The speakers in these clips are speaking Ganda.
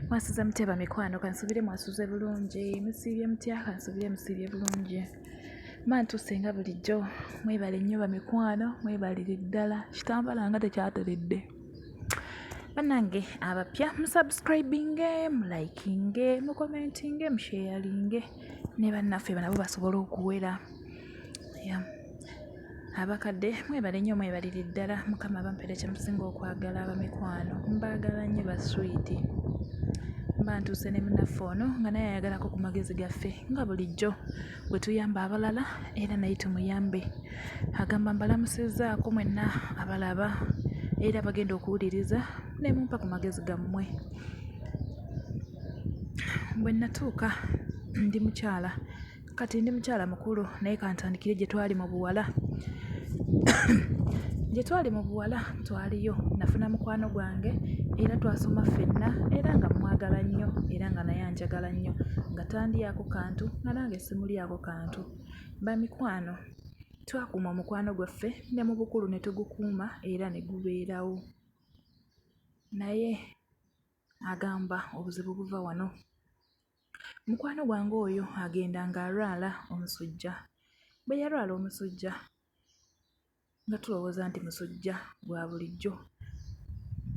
mwasuze mutya bamikwano kansubire mwasuze bulungi musiibye mutya kansubire musiibye bulungi mantuuse nga bulijjo mwebale nnyo bamikwano mwebalire ddala kitambala nga tekyateledde banange abapya musubscribinge mulikinge mukomentinge musheyalinge ne bannaffe banabo basobola okuwera abakadde mwebale nnyo mwebalire ddala mukama abampere kyemusinga okwagala abamikwano mbaagala nnyo baswiiti mba ntuuse ne munaffe ono nga naye ayagalako ku magezi gaffe nga bulijjo bwe tuyamba abalala era naye tumuyambe agamba mbalamusizaako mwenna abalaba era bagenda okuwuliriza ne mumpa ku magezi gammwe bwe natuuka ndi mukyala Kati ndi mukyala mukulu naye kantandikire gye twali mu buwala. Gye twali mu buwala twaliyo nafuna mukwano gwange era twasoma ffenna era nga mmwagala nnyo era nga naye anjagala nnyo nga tandyako kantu nga nange simulyako kantu. Bamikwano twakuuma omukwano gwaffe ne mu bukulu ne tugukuuma era ne gubeerawo. Naye agamba obuzibu buva wano. Mukwano gwange oyo agenda ng'alwala omusujja. Bwe yalwala omusujja nga tulowooza nti musujja gwa bulijjo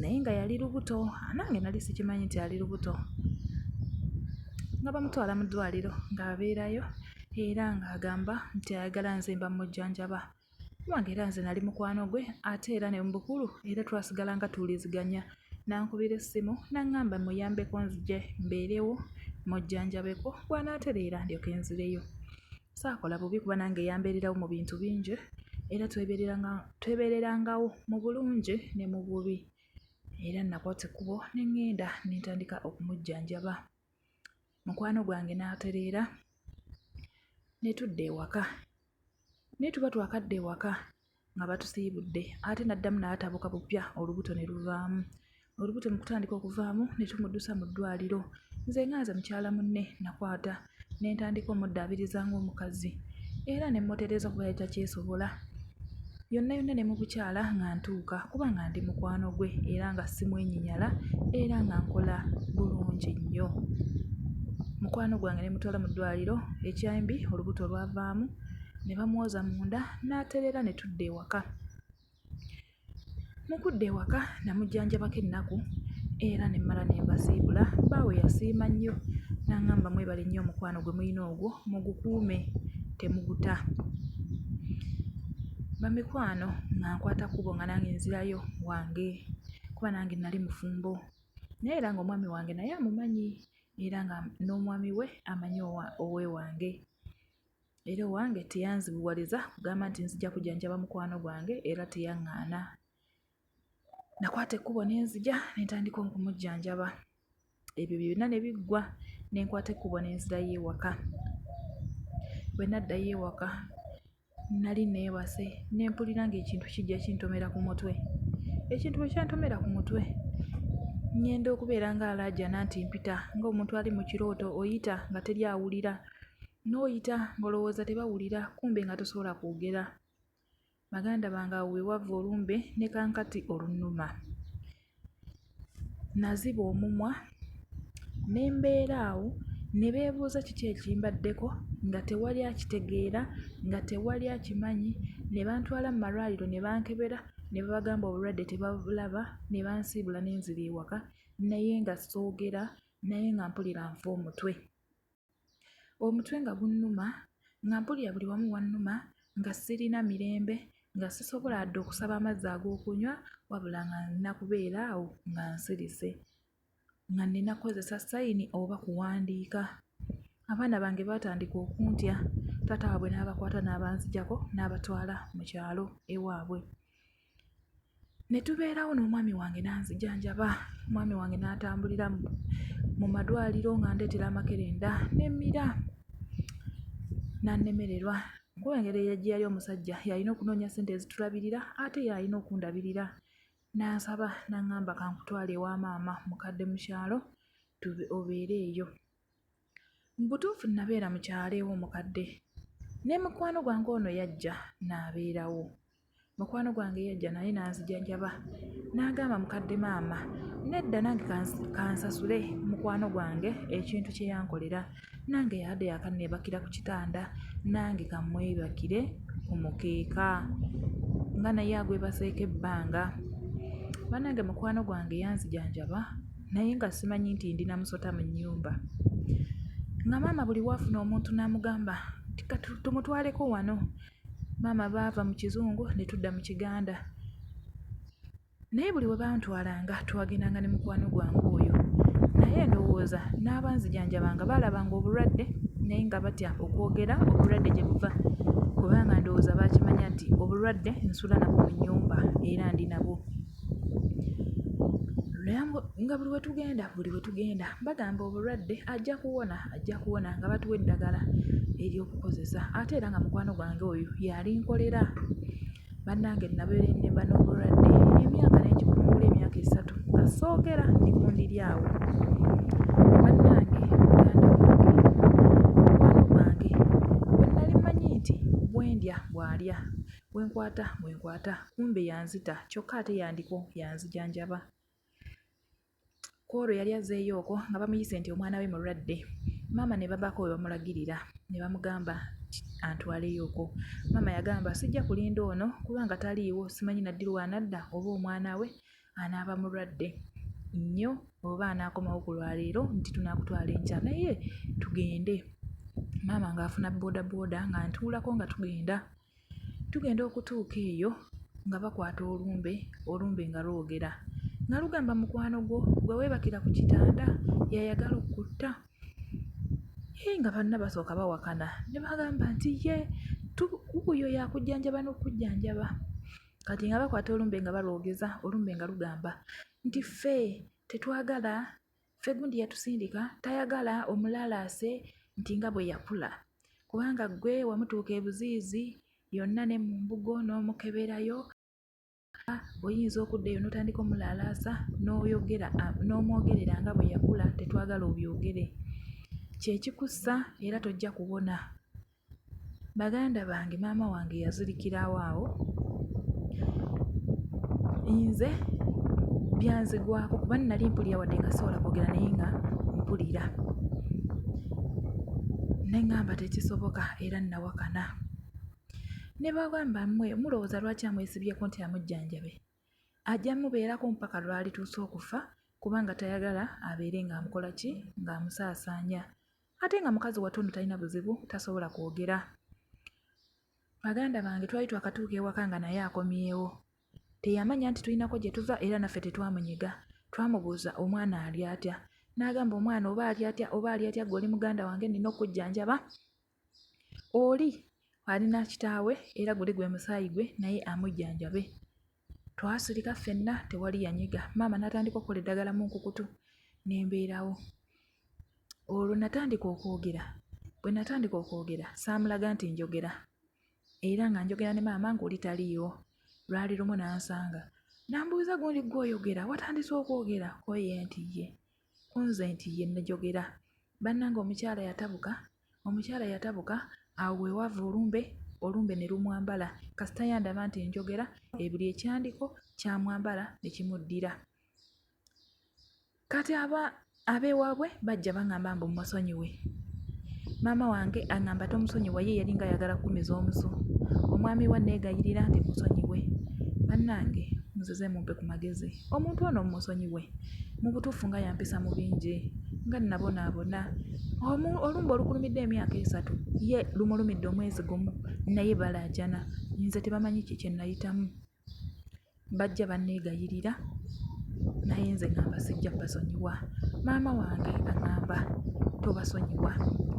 naye nga yali lubuto, nange nali sikimanyi nti ali lubuto. Nga bamutwala mu ddwaaliro ng'abeerayo era ng'agamba nti ayagala nze mba mmujjanjaba. wange era nze nali mukwano gwe ate era ne mubukulu era twasigala nga tuwuliziganya nankubira essimu naŋŋamba muyambeko nzije mbeerewo mujjanjabeko bwanaatereera ndyoke nzireyo saakola bubi kuba nange yambeererawo mu bintu bingi era twebeererangawo mu bulungi ne mu bubi era nakwata ekkubo ne ŋŋenda ne ntandika okumujjanjaba mukwano gwange n'atereera ne tudda ewaka naye tuba twakadda ewaka nga batusiibudde ate n'addamu n'atabuka bupya olubuto ne luvaamu olubuto mu kutandika okuvaamu ne tumuddusa mu ddwaliro nze nga nze mukyala munne nakwata ne ntandika omuddaabiriza ng'omukazi era ne mmutereeza kuba yali takyesobola yonna yonna ne mu bukyala nga ntuuka kuba nga ndi mukwano gwe era nga simwenyinyala era nga nkola bulungi nnyo mukwano gwange ne mutwala mu ddwaliro ekyambi olubuto lwavaamu ne bamwoza munda n'atereera ne tudda ewaka Mu kudda ewaka namujjanjabako ennaku era ne mmala ne mbasiibula. Bbaawe yasiima nnyo n'ang'amba mwebale nnyo omukwano gwe mulina ogwo mugukuume temuguta. Bamikwano nga nkwata kkubo nga nange nzirayo wange kuba nange nali mufumbo naye era ng'omwami wange naye amumanyi era nga n'omwami we amanyi owewange. Era owange teyanzibuwaliza kugamba nti nzija kujanjaba mukwano gwange era teyaŋŋaana. Nakwata ekkubo ne nzija ne ntandika okumujjanjaba. Ebyo byonna ne biggwa ne nkwata ekkubo ne nzirayo ewaka. Bwe naddayo ewaka nali neebase ne mpulira ng'ekintu kijja kintomera ku mutwe. Ekintu bwe kyantomera ku mutwe ng'enda okubeera ng'alaajana nti mpita ng'omuntu ali mu kirooto oyita nga teri awulira. n'oyita ng'olowooza tebawulira kumbe nga tosobola kwogera baganda bange awo wewava olumbe ne kankati olunuma naziba omumwa ne mbeera awo ne beebuuza kiki ekimbaddeko nga tewali akitegeera nga tewali akimanyi ne bantwala mu malwaliro ne bankebera ne babagamba obulwadde tebabulaba ne bansiibula ne nzira ewaka naye nga soogera naye nga mpulira nfa omutwe Omutwe nga gunnuma, nga mpulira buli wamu wannuma, nga sirina mirembe, nga sisobola yadde okusaba amazzi ag'okunywa wabula nga nina kubeera awo nga nsirise, nga nina kukozesa sayini oba kuwandiika. Abaana bange baatandika okuntya, taata waabwe n'abakwata n'abanzigyako n'abatwala mu kyalo ewaabwe. ne tubeerawo n'omwami wange n'anzijanjaba omwami wange n'atambulira mu madwaliro nga ndeetera amakerenda nemmira n'annemererwa kuba engeri gye yali omusajja yalina okunoonya ssente ezitulabirira ate yalina okundabirira n'ansaba n'aŋŋamba kankutwale ewa maama mukadde mu kyalo obeere eyo Mu butuufu nnabeera mu kyalo ew'omukadde ne mukwano gwange ono yajja n'abeerawo. Mukwano gwange yajja naye n'anzijanjaba n'agamba mukadde maama nedda nange ka nsasule mukwano gwange ekintu kye yankolera nange yadde yakanneebakira ku kitanda nange ka mmwebakire ku mukeeka nga naye agwebaseeko ebbanga. Bannange mukwano gwange yanzijanjaba. naye nga simanyi nti ndi na musota mu nnyumba nga maama buli waafuna omuntu n'amugamba nti tumutwaleko wano maama baava mu kizungu ne tudda mu kiganda naye buli we bantwalanga twagendanga ne mukwano gwange oyo naye ndowooza n'abanzijanjabanga baalabanga obulwadde naye nga batya okwogera obulwadde gye buva kubanga ndowooza baakimanya nti obulwadde nsula nabwo mu nnyumba era ndi nabwo nga buli wetugenda buli wetugenda bagamba obulwadde ajja kuwona ajja kuwona nga batuwa eddagala ery'okukozesa ate era nga mukwano gwange oyo yalinkolera bannange nabeera ennemba n'obulwadde emyaka ne ngikungula emyaka esatu nga soogera ndi ku ndiri awo Bwenkwata bwenkwata kumbe yanzita kyokka ate yandiko yanzijanjaba. Kwolwo yali azzeeyo okwo nga bamuyise nti omwana we mulwadde. Maama ne babaako we bamulagirira ne bamugamba antwaleyo okwo. Maama yagamba sijja kulinda ono kuba nga taliiwo simanyi Nadduli w'anadda oba omwana we anaaba mulwadde nnyo oba anaakomawo ku lwaleero nti tunaakutwala enkya naye tugende. Maama ng'afuna boodabooda ng'antuulako nga tugenda. Tugenda okutuuka eyo nga bakwata olumbe, olumbe nga lwogera nga lugamba mukwano gwo gwe weebakira ku kitanda y'ayagala okukutta. Hee nga banna basooka bawakana ne bagamba nti ye wuuyo yakujjanjaba n'okujjanjaba. Kati nga bakwata olumbe nga balwogeza, olumbe nga lugamba nti ffe tetwagala Ffe gundi yatusindika tayagala omulalaase nti nga bwe yakula kubanga ggwe wamutuuka ebuziizi yonna ne mu mbugo n'omukeberayo era oyinza okudda eyo n'otandika omulalaasa n'oyogera n'omwogerera nga bwe yakula tetwagala obyogere kye kikussa era tojja kuwona. Baganda bange maama wange yazirikirawo awo, nze byanzigwako kuba nnali mpulira wadde nga sisobola kwogera naye nga mpulira ne ŋŋamba tekisoboka era nnawakana ne bagamba mmwe mulowooza lwaki amwesibyeko nti amujjanjabe ajja mubeerako mpaka lwalituusa okufa kubanga tayagala abeere ng'amukola ki ng'amusaasaanya ate nga mukazi watundu talina buzibu tasobola kwogera baganda bange twali twakatuuka ewaka nga naye akomyewo teyamanya nti tulinako gye tuva era naffe tetwamunyiga twamubuuza omwana ali atya n'agamba omwana oba ali atya oba ali atya gwe oli muganda wange nina okujjanjaba oli alina kitaawe era guli gwe musaayi gwe naye amujjanjabe Twasirika ffenna tewali yanyega maama n'atandika okukola eddagala mu nkukutu ne mbeerawo. Olwo natandika okwogera, bwe natandika okwogera saamulaga nti njogera era nga njogera ne maama ng'oli taliiwo. Lwali lumu n'ansanga n'ambuuza gundi ggwe oyogera watandise okwogera ko ye nti ye ku nze nti ye nnajogera. Bannange omukyala yatabuka Omukyala yatabuka awo we waava olumbe, olumbe ne lumwambala kasita yandaba nti enjogera ebiri ekyandiko kyamwambala ne kimuddira. Kati aba ab'ewaabwe bajja bang'amba mbu mmusonyiwe. Maama wange ang'amba tomusonyiwa ye yalinga ayagala kukumiza omusu. Omwami we anneegayirira nti musonyiwe. Bannange nzize mumpe ku magezi. Omuntu ono mmusonyiwe, mu butuufu nga yampisa mu bingi, nga nnabonaabona. Omu, olumbe olukulumidde emyaka esatu, ye lumulumidde omwezi gumu, naye balaajana. Nze tebamanyi ki kye nnayitamu. Bajja banneegayirira, naye nze ŋŋamba sijja basonyiwa. Maama wange aŋŋamba tobasonyiwa.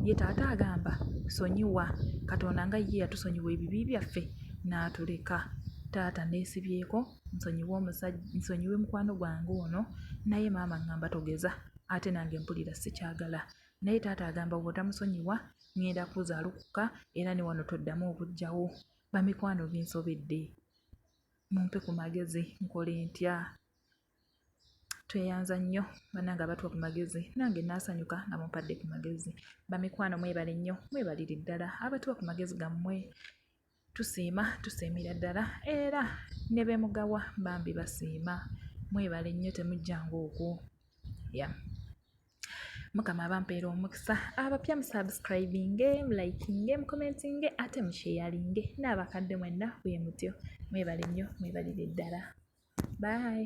Ye taata agamba sonyiwa. Katonda nga ye yatusonyiwa ebibi byaffe n'atuleka. Taata nneesibyeko. nsonyiwe omusajja nsonyiwe mukwano gwange ono naye maama ngamba togeza ate nange mpulira sikyagala naye taata agamba bwotamusonyiwa ngenda kuza alukuka era ne wano toddamu okujjawo bamikwano binsobedde mumpe ku magezi nkole ntya tweyanza nnyo banange abatuwa ku magezi nange naasanyuka nga mumpadde ku magezi bamikwano mwebale nnyo mwebalire ddala abatuwa ku magezi gammwe Tusiima tusiimira ddala era ne be mugawa bambi basiima mwebale nnyo temujjanga okwo ya mukama abampeera omukisa abapya musubscribinge mulikinge mukomentinge ate musheyalinge n'abakadde mwenna bwe mutyo mwebale nnyo mwebalire ddala bye